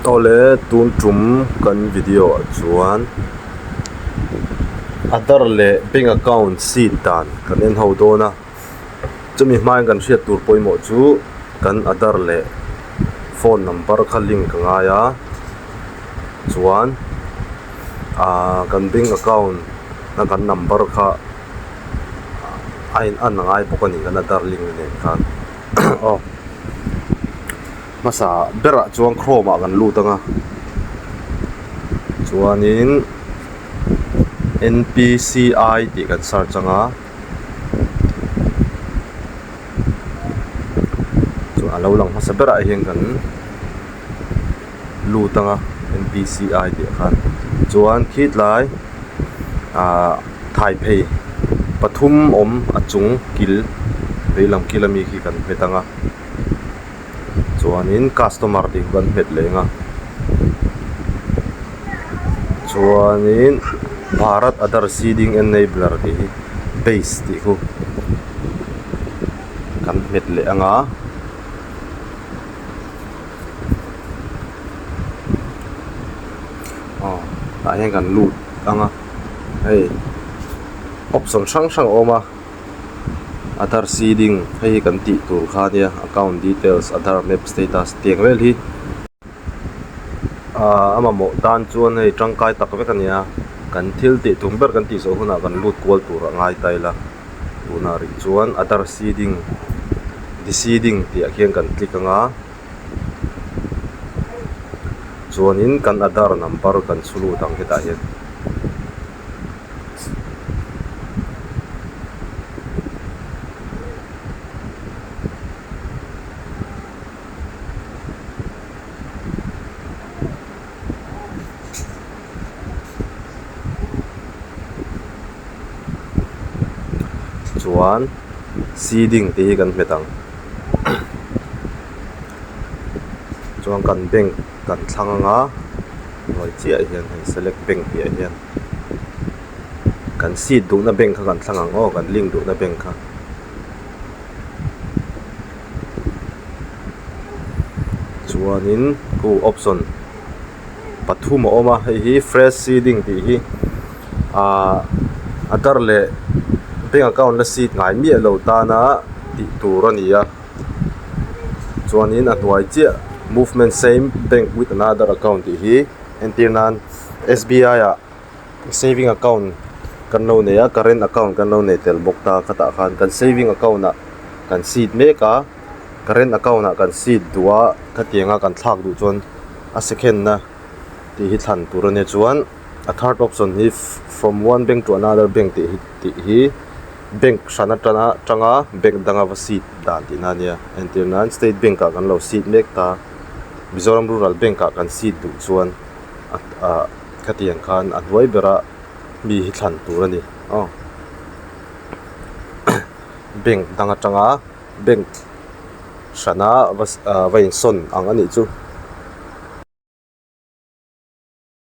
Awle tun tum kan video ah chuan Aadhar leh bank account seed dan kan en ho dawn a, chumi hmain kan hriat tur pawimawh chu kan Aadhar leh phone number kha link ka ngai a chuan aaa kan bank account na kan number kha a in a na ngai bawk a ni kan Aadhar link a nen khan aw. Hmasa berah chuan chrome ah kan lut anga chuanin npci tih kan search anga chuan alo lang hmasa berah hian kan lut anga npci tih a khan chuan khitlai ah thaiphei pathum awm a chung kil veilam kil ami khi kan hmet anga. chuanin customer tih ka hmet leng a chuanin bharat adar seeding enabler tih hi base tih hu kan hmet leh ang a. Aadhar seeding hei hi kan tih tur kha nia account details aadhar map status ti ang vel hi ahh a mamawh tan chuan hei tangkai tak vek a nia kan thil tih tur ber kan tih suah hunah kan lut kual tur a ngai ta ila tunah rih chuan aadhar seeding deseeding tih ah khian kan click anga chuanin kan aadhar number kan chhu lut ang hetah hian. chuan ceiling te hi kan hmet ang chuan kan bank -- kan thlang anga hnuai chiah ah hian hei select bank piah ah hian kan seat duhna bank kha kan thlang ang aw kan link duhna bank kha chuanin oh option pathum a awm a hei hi fresh seeding tih hi ahh a dar leh bank account la seat ngai miah loh tana tih tur a ni a. chuanin a hnuai chiah movement same bank with another account tih hi entir nan S B I ah saving account kan lo nei a current account kan lo nei tel bawk ta khatah khan kan saving account ah kan chhit mek a current account ah kan chhit duh a khatianga kan thlak duh chuan a second na tih hi thlan tur a nia chuan-- A third option hi from one bank to another bank tih hi tih hi bank hran atanga atanga bank danga va seat dan tih na nia a entir nan state bank ah kan lo seat mek ta mizoram rural bank ah kan seat duh chuan a a khatiang khan a hnuai bera mi hi thlan tur a ni aw bank dang atanga bank hrana va ahh va insawn ang a nih chu.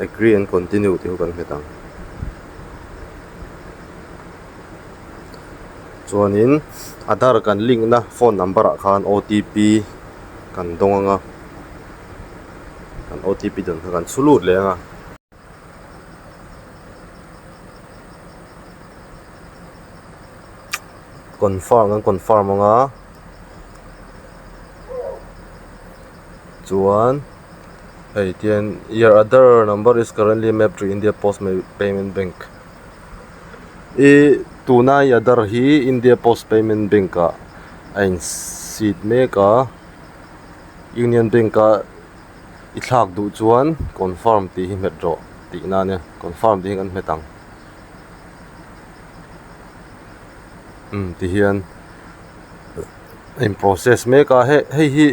agree and continue tih kan hmu thang chuan in aadhar kan link na phone number ah khan otp kan dawng ang a kan otp dawn kha kan chhu lut leh ang a. Confirm kan confirm ang a chuan hei tian your other number is currently mapped to india post payment bank i tuna i other hi india post payment bank ah a in seed mek a union bank a-- i thlak duh chuan confirm tih hi hmet rawh tih na ania confirm tih hi kan hmet ang imm tihian a in process mek a heh hei hi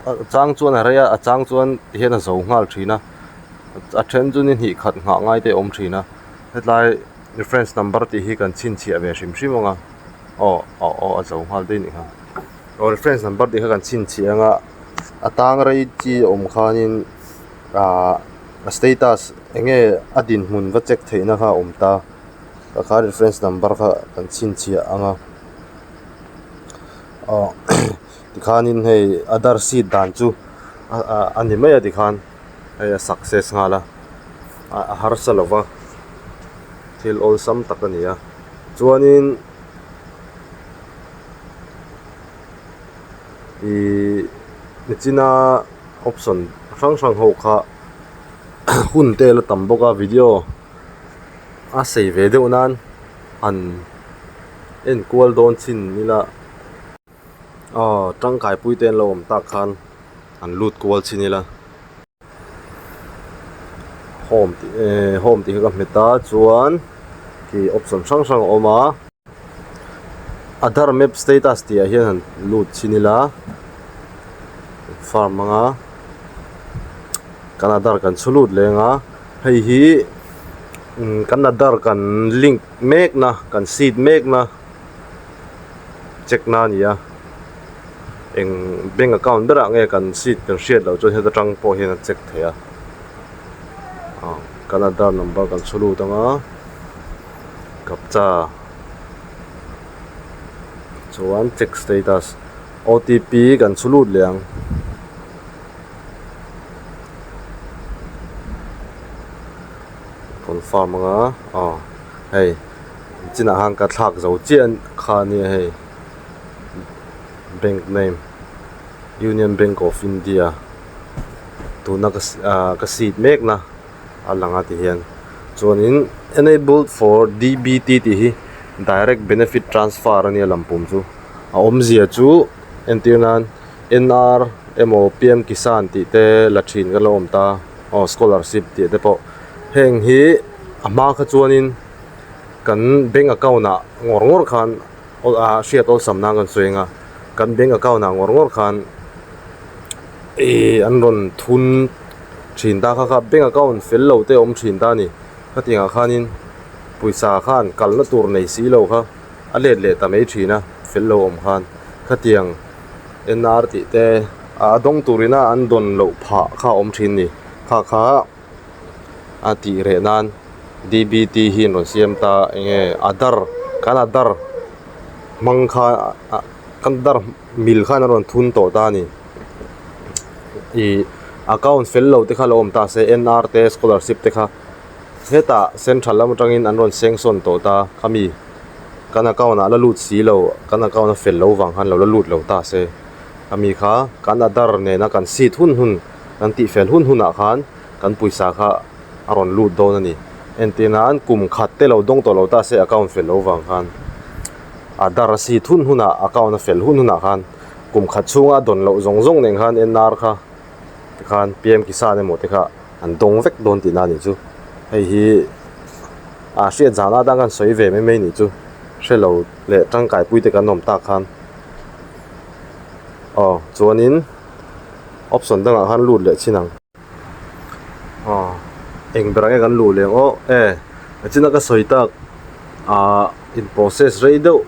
a chang chuan a rei a a chang chuan tihian a zo nghal thin a a then chuan i hnih khat nghah ngai te a awm thin a hetlai reference number tih hi kan chhinchhiah ve hrim hrim ang a aw aw aw a zo nghal daih a ni ang. Aw friends hnam birthday kha kan chhinchhia anga a tang rei chi awm khanin ahh a status eng nge a dinhmun va check theihna kha a awm ta a khan ri friends number kha kan chhinchhia anga aw tikhanin hei other seat dan chu a ni mai a tikhan hei a success nghal a a harsa lova thil awlsam tak a ni a chuanin. ihh mi china option chi hrang hrang ho kha hun te la tam bawk a video a sei ve deuh nan han enkual dawn chin ila aw tangkai pui te an lo awm tak khan han lut kual chin ila. home tih eehh home tih hi ka hmet a chuan khi option hrang hrang a awm a aadhar map status tih ah hian han lut chhin ila farm hmang a kan aadhar kan chhu lut leng a hei hi kan aadhar kan link mek na kan seed mek na. check na a ni a eng bank account berah nge kan chit kan hriat loh chuan heta tang pawh hian an check thei a ah kan aadhar number kan chhu lut ang a captcha chuan check status otp kan chhu lut leh ang confirm anga ah hei. An chinah khan ka thlak zo chiah kha nia hei bank name union bank of india tuna ka ah ka seat mek na a lang a ti hian chuanin enabled for dbt tih hi direct benefit transfer a nia lam pum chu a awmzia chu entir nan nr emaw pm kisan tih te la thin ka la awm ta aw scholarship tih te pawh heng hi a hma kha chuanin-- kan bank account ah ngawr ngawr khan a hriat awlsam nan kan sawi anga kan bank account ah ngawr ngawr khan ihh an rawn thun thin ta kha kha bank account fel lo te awm thin ta a ni heti ang ah khanin pawisa khan kal na tur nei si lo kha a let leh ta mai thin a fel lo awm khan khati ang en na ar tih te a dawng tur in a an dawn loh phah kha a awm thin a ni kha kha. a tih reh nan dbt hi an rawn siam ta eng nge a dar kan a dar hmang kha ah kan dar mil khan an rawn thun tawh ta a ni ih account fel lo te kha lo awm ta se nar te scholarship te kha hetah central lam atangin an rawn sanction tawh ta khami kan account ah la lut si lo kan account a fel lo vang khan lo la lut lo ta se khami kha kan a dar nena kan sit hun hun. kan tih fel hun hunah khan kan puisa kha a rawn lut dawn a ni entir na an kum khat te lo dawng tawh lo ta se account fel lo vang khan aadhar a sit hun hunah account a fel hun hunah khan kum khat chhunga a dawn loh zawng zawng nen khan enar kha te khan pian kisan emaw te kha an dawng vek dawn tihna a nih chu hei hi aa hriat zan atan khan sawi ve mai mai nih chu hre lo leh tangkaipui te kan awm tak khan aw chuan in. option dangah khan lut leh chin ang aw eng berah nge kan luh leh ang aw e a chhuna ka sawi tak ah in process rei deuh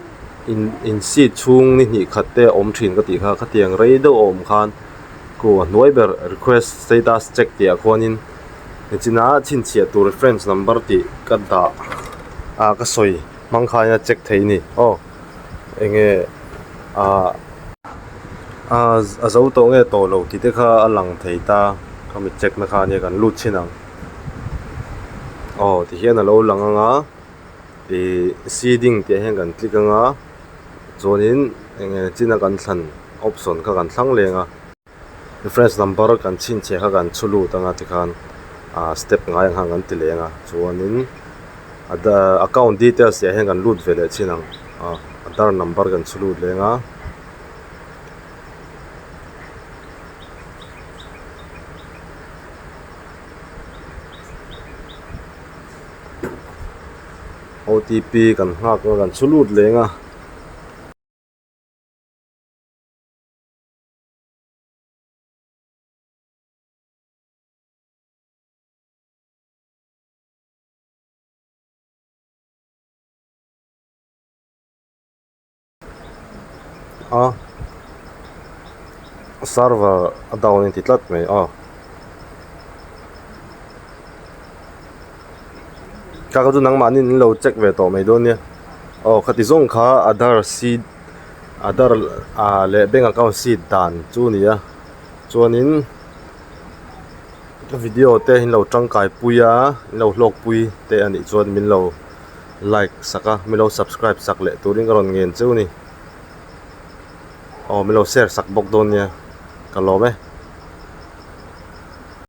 in in seat chhung ni hnih khat te awm thin ka tih kha khatiang rei deuh a awm khan ku a hnuai ber request status check tih ah khuan in a chhuna chhinchhiah tur reference number tih ka dah ah ka sawi hmang khan a check thei a ni aw. Eng nge aa a zo tawh nge tawh lo tih te kha a lang thei ta, ka mi check na kha ania kan lut chin ang. Aw ti hian a lo lang ang a, ih seeding tih ah hian kan click ang a, chuanin eng nge chin a kan thlan option kha kan thlang leng a. Reference number kan chhinchhe kha kan chhu lut anga tikhan ahh step ngai ang khan kan ti leng a chuanin ada account details leh hian kan lut ve leh chin ang ah aadhar number kan chhu lut leng a OTP kan nghak kha kan chhu lut leng a. a server a down a intih tlat mai a nangmahni in lo check ve tawh mai dawn nia aw khati zawng kha aadhar seed . Aadhar ah leh bank account seed dan chu a ni a chuanin ka video te in lo tangkai pui a in lo hlawk pui teh a nih chuan min lo like sak a min lo subscribe sak leh turin ka rawn ngen cheu a ni aw min lo share sak bawk dawn nia ka lawm e.